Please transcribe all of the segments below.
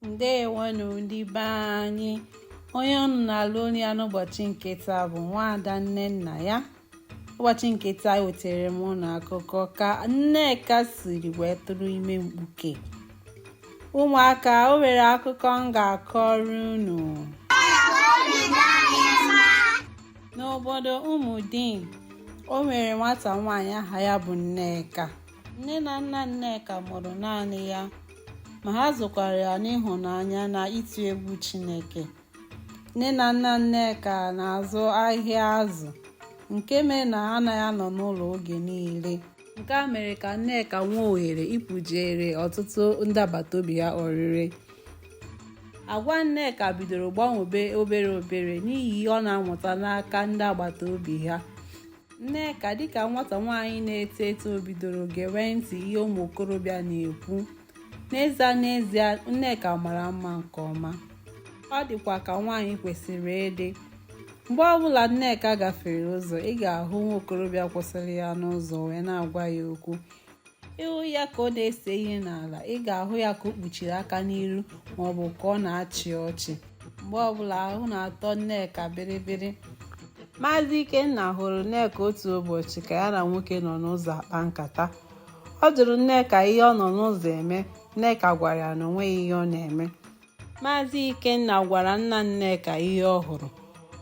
ndewonu ndị be anyị onye unu na-anụ olu ya n'ụbọchị nke taa bụ nwaada nnennaya ụbọchị nke taa ewetara m unu akụkọ ka nneka siri wee tụrụ ime mkpuke ụmụaka o nwere akụkọ m ga-akọrọ unu n'obodo ụmụdim o nwere nwata nwaanyị aha ya bụ nneka nne na nna nneka mụrụ naanị ya ma ha zụkwara ya n'ịhụnanya na ịtụ egwu chineke nne na nna nneka na-azụ ahịa azụ nke mere na ha anaghị anọ n'ụlọ oge niile nke a mere ka nneka nwee ohere ịpụjere ọtụtụ ndị agbata obi ya oriri agwa nneka bidoro gbanwebe obere obere n'ihi ihe ọ na-amụta n'aka ndị agbata obi ha Nneka dịka nwata nwaanyị na-eto eto bidoro gewe ntị ihe ụmụ okorobịa na-ekwu. N'ezie n'ezie, Nneka mara mma nke ọma. Ọ dịkwa ka nwaanyị kwesịrị ịdị. Mgbe ọbụla Nneka gafere ụzọ, ị ga-ahụ nwa okorobịa kwụsịrị ya n'ụzọ wee na-agwa ya okwu. ị hụ ya ka ọ na-ese ihe n'ala ị ga-ahụ ya ka o kpuchiri aka n'iru maọbụ ka ọ na-achị ọchị mgbe ọbụla ahụ na-atọ nneka bịrịbịrị maazị ikenna hụrụ nneka otu ụbọchị ka ya na nwoke nọ n'ụzọ akpa nkata ọ jụrụ nneka ihe ọ nọ n'ụzọ eme nneka gwara ya na o nweghị ihe ọ na-eme Maazị Ikenna gwara nna Nneka ihe ọ hụrụ.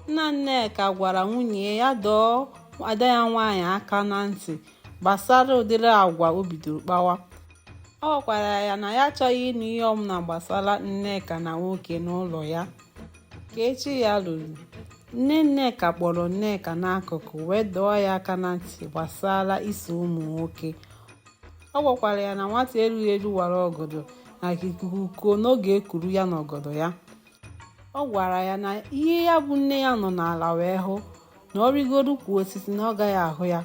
Nna Nneka gwara nwunye ya dọọ ada ya nwaanyị aka na ntị gbasara ụdịrị agwa o bidoro kpawa. Ọ gwakwara ya na ya achọghị ịnụ ihe ọbụla gbasara Nneka na nwoke n'ụlọ ya. Ka echi ya luru, nne Nneka kpọrọ Nneka n'akụkụ wee dọọ ya aka na ntị gbasara iso ụmụ nwoke. ọ gwakwara ya na nwata erughị eru wara ọgọdọ na ikuku kuo na ọ ga-ekuru ya na ọgọdọ ya ọ gwara ya na ihe ya bụ nne ya nọ n'ala wee hụ na ọ rịgoro ukwu osisi na ọ gaghị ahụ ya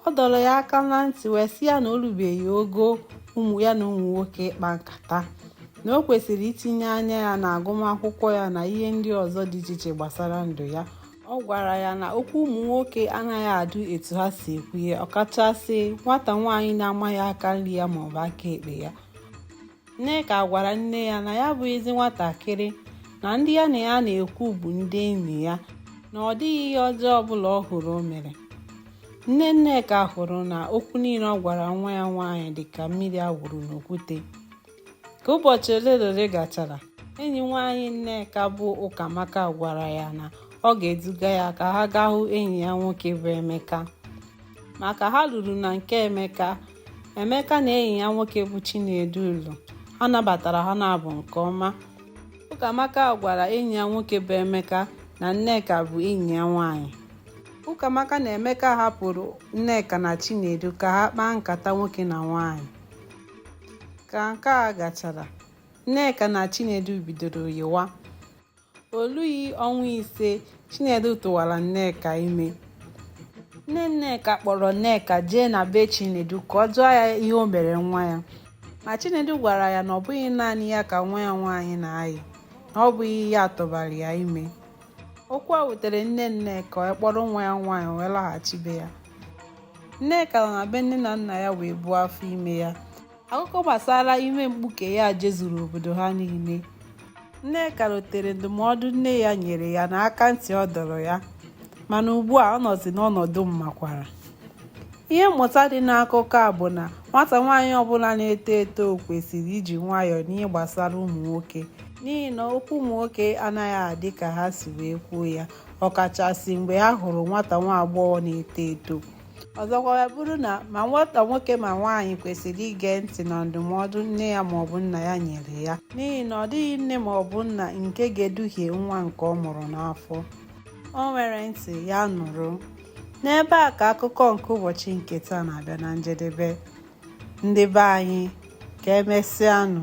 ọ dọrọ ya aka na ntị wee sị ya na o rubeghị ogo ya na ụmụ nwoke ịkpa nkata na o kwesịrị itinye anya ya na agụmakwụkwọ ya na ihe ndị ọzọ dị iche iche gbasara ndụ ya ọ gwara ya na okwu ụmụ nwoke anaghị adụ etu ha si ekwu ya ọkachasị nwata nwaanyị na-amaghị aka nri ya maọbụ aka ekpe ya nneka gwara nne ya na ya bụ ezi nwatakịrị na ndị ya na ya na-ekwu bụ ndị enyi ya na ọ dịghị ihe ọjọọ ọbụla ọ hụrụ o mere nne nneka hụrụ na okwu niile ọ gwara nwa ya nwaanyị dị ka mmiri a wụrụ n'okwute ka ụbọchị ole na ole gachara enyi nwaanyị nneka bụ ụkamaka gwara ya na ọ ga-eduga ya ka ha gaa hụ enyi ya nwoke bụ emeka ma ka ha ruru na nke emeka emeka na enyi ya nwoke bụ chinedu nọ ha nabatara ha naabọ nke ọma ụkamaka gwara enyi ya nwoke bụ emeka na nneka bụ enyi ya nwaanyị ụkamaka na emeka hapụrụ nneka na chinedu ka ha kpaa nkata nwoke na nwaanyị ka nke a gachara nneka na chinedu bidoro yịwa o lughị ọnwa ise chinedu tụwara nneka ime nne nneka kpọrọ nneka jee na be chinedu ka ọ jụọ ya ihe o mere nwa ya ma chinedu gwara ya na ọ bụghị naanị ya ka nwa ya nwaanyị na-ayị na ọ bụghị ya tụbara ya ime okwu a wutere nne nneka ọ kpọrọ nwa ya nwaanyị wee laghachi be ya Nneka nọ na be nne na nna ya wee buo afọ ime ya. Akụkọ gbasara ime mkpuke ya jezuru obodo ha niile. Nneka rotere ndụmọdụ nne ya nyere ya na aka ntị ọ dọrọ ya mana ugbu a ọ nọzi n'ọnọdụ mmakwara. Ihe mmụta dị n'akụkọ a bụ na nwata nwaanyị ọbụla na-eto eto kwesịrị iji nwayọọ n'ihe gbasara ụmụ nwoke n'ihi na okwu ụmụ nwoke anaghị adị ka ha si wee kwuo ya ọkachasị mgbe ha hụrụ nwata nwa agbọghọ na-eto eto ọzọkwa wee bụrụ na ma nwata nwoke ma nwaanyị kwesịrị ige ntị na ndụmọdụ nne ya maọbụ nna ya nyere ya n'ihi na ọ dịghị nne maọbụ nna nke ga-eduhie nwa nke ọ mụrụ n'afọ o nwere ntị ya nụrụ n'ebe a ka akụkọ nke ụbọchị nke taa na-abịa na njedebe ndị be anyị ka emesịanụ